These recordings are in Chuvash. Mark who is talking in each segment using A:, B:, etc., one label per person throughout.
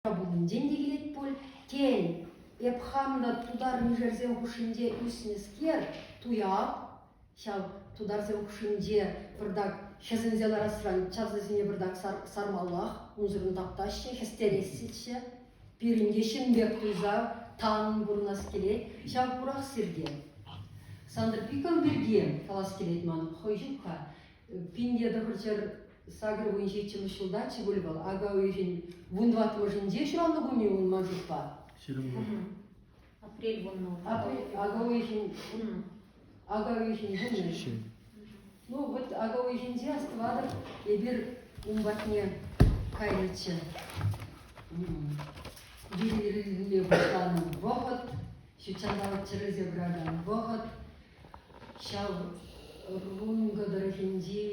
A: пулинчен те килет пуль. Тен, эп хам та тутар-мишерсем хушшинче ӳснӗскер, туяп, ҫав тутарсем хушшинче пӑртак хӗсӗнсе ларасран чавсасене пӑртак сар, сармаллах, унсӑрӑн таптаҫҫӗ, хӗстерессӗччӗ. Пирӗн те ҫын пек туйса тан пурӑнас килет, ҫав пурах сирте. Сантӑр Пиков пирки калас килет ман, хӑй ҫук-ха. Пин те тӑхӑр ҫӗр Сакӑр вун ҫиччӗмӗш ҫулта чи пуль вӑл. Ака уйӑхӗн вун тӑваттӑмӗшӗнче ҫуралнӑ кун-и ун ман шутпа? Ҫирӗм вун.
B: Апрель вуннӑ. Апрель, ака уйӑхӗн
A: ака уйӑхӗн вуннӑ. Ну вот ака уйӑхӗнче астӑватӑп, эпир ун патне кайнӑччӗ. Вир ирӗлме пуҫланӑ вӑхӑт, ҫутҫанталӑк чӗрӗлсе пыракан вӑхӑт. Ҫав Рункӑ тӑрӑхӗнчи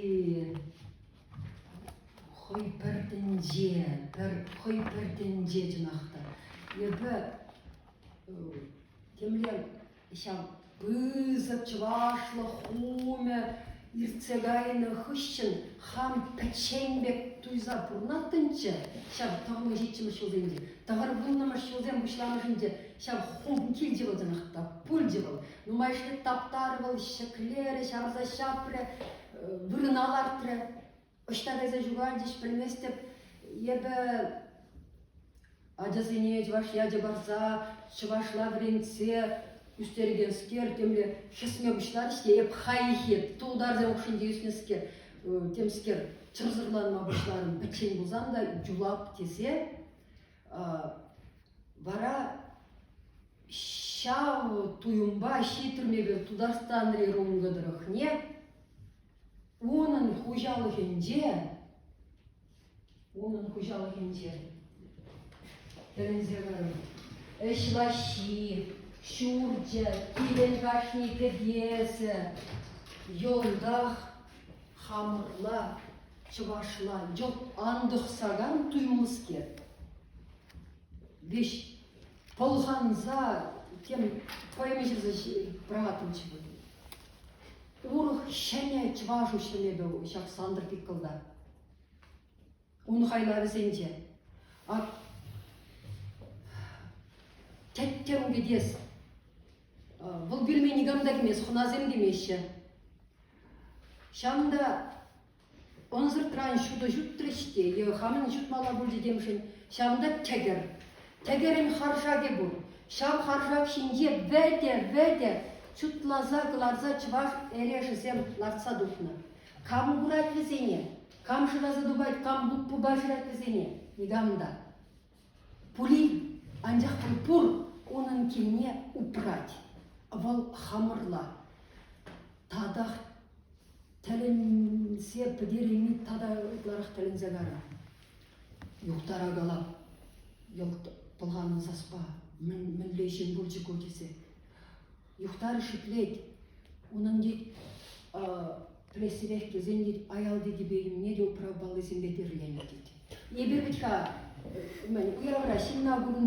A: хӑй пӗр тӗнче, пӗр хӑй пӗр тӗнче чӑнах та. Эпӗ темле ҫав пысӑк чӑвашлӑх хумӗ иртсе кайнӑ хыҫҫӑн хам пӗччен пек туйса пурӑнаттӑмччӗ ҫав тӑхӑннӑ ҫиччӗмӗш ҫулсенче. Тӑхӑр вуннӑмӗш ҫулсем пуҫламӑшӗнче ҫав хум килчӗ вӑл чӑнах та, пулчӗ вӑл. Нумайӑшне таптарӗ вӑл, ҫӗклерӗ, ҫавӑрса ҫапрӗ, вырӑна лартрӗ. Ӑҫта кайса ҫухалчӗҫ, пӗлместӗп. Эпӗ ачасене чӑваш ячӗ парса, чӑвашла вӗрентсе ӳстерекенскер темле хӗсме пуҫларӗҫ те эп хайхи тултарсем хушшинче ӳснӗскер темскер чӑрсӑрланма пуҫларӑм. Пӗччен пулсан та, Джулап тесе Вара ҫав туйӑмпа ҫитрӗмӗр Тутарстанри рунго тӑрӑхне. Унӑн хуҫалӑхӗнче унӑн хуҫалӑхӗнче тӗлӗнсе карӑм. Ӗҫ лаҫҫи, ҫурчӗ, килен кашни кӗтесӗ, йӑлтах хамӑрла Чӑвашла йӑл антӑхсакан туйӑмлӑскер. Веҫ пӑлханса тем хӑйме ҫырса пӑрахаттӑмччӗ вӑл. Урӑх ҫӗнӗ чӑваш уҫлӑмӗпе ҫак Сантӑр Пиккӑлта. Ун хайлавӗсенче ак тӗттӗм кӗтес Вӑл пӳлме никам та кӗмест, хӑнасем кӗмеҫҫӗ. Ҫавӑн та ӑнсӑртран ҫутӑ ҫутрӗҫ те е хамӑн ҫутмалла пуль текеншӗн ҫавӑнта тӗкӗр. Тӗкӗрӗн харшакӗ пур. Ҫав харшак ҫинче вӗтӗ-вӗтӗ чутласа кӑларса чӑваш эрешӗсем лартса тухнӑ. Кам курать вӗсене? Кам шыраса тупать, кам пуппа шырать вӗсене? Никам та. Пулин, анчах пуль пур, унӑн килне упрать. Вӑл хамӑрла. Татах тӗлӗнсе пӗтерейми тата ытларах тӗлӗнсе кара. Юхтара калап, йӑлт пӑлханнӑ саспа, мӗн, мӗнле ҫын пулчӗ ку тесе. юхтарӗ шӳтлет. Унӑн тет пӗлессипех тесен тет аялти типӗ-имне те управпаллисемпе тирленӗ тет. Эпир вӗт-ха уявра ҫынна курӑн